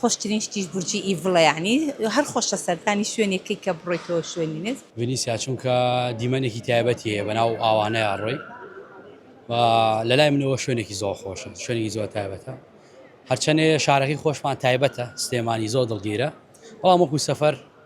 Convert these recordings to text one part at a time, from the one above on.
خۆشترین شتیش بورجی ئیڤڵە یەعنی هەر خۆشە سەردانی شوێنێکەی کە بڕۆیتەوە شوێنی نز. ڤینیسیا چونکە دیمەنێکی تایبەتی هەیە بەناو ئاوانەیا ڕۆی و لەلای منەوە شوێنێکی زۆر خۆشە شوێنێکی زۆر تایبەتە هەرچەنێ شارەکەی خۆشمان تایبەتە سلێمانی زۆر دڵگیرە بەڵام وەکو سەفەر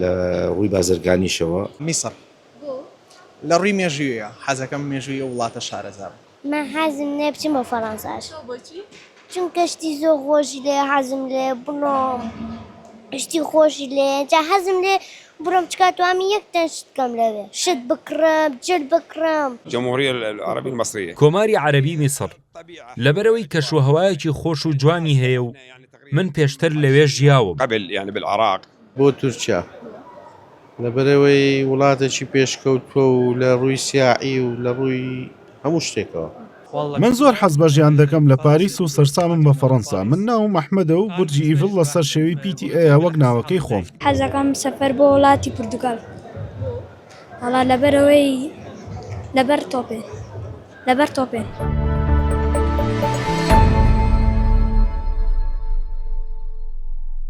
لە ڕووی بازرگانیشەوە. میسر لە ڕووی مێژوویە حەزەکەم مێژووی ئەو وڵاتە شارەزا بم. من حەزم لێیە بچم بۆ فەرەنساش. تۆ بۆچی؟ چونکە شتی زۆر خۆشی لێیە حەزم لێیە بڕۆم شتی خۆشی لێیە جا حەزم لێیە بڕۆم چکا توانم یەک تەن شت بکەم لەوێ شت بکڕم جل بکڕم. جمهوریە العربیە المصریە. کۆماری عەرەبی میسر لەبەرئەوەی کەشوهەوایەکی خۆش و جوانی هەیە و من پێشتر لەوێ ژیاوم. بۆ تورکیا؟ لەبەرئەوەی وڵاتێکی پێشکەوتووە و لە ڕووی سیاحی و لە ڕووی هەموو شتێکەوە. من زۆر حەز بە ژیان دەکەم لە پاریس و سەرسامم بە فەڕەنسا. من ناوم ئەحمەدە و بورجی ئیڤڵ لە سەر شێوی پیتی ئەیە وەک ناوەکەی خۆم. حەزەکەم سەفەر بۆ وڵاتی پورتوگال. وەڵا لەبەرئەوەی لەبەر تۆپێ. لەبەر تۆپێن.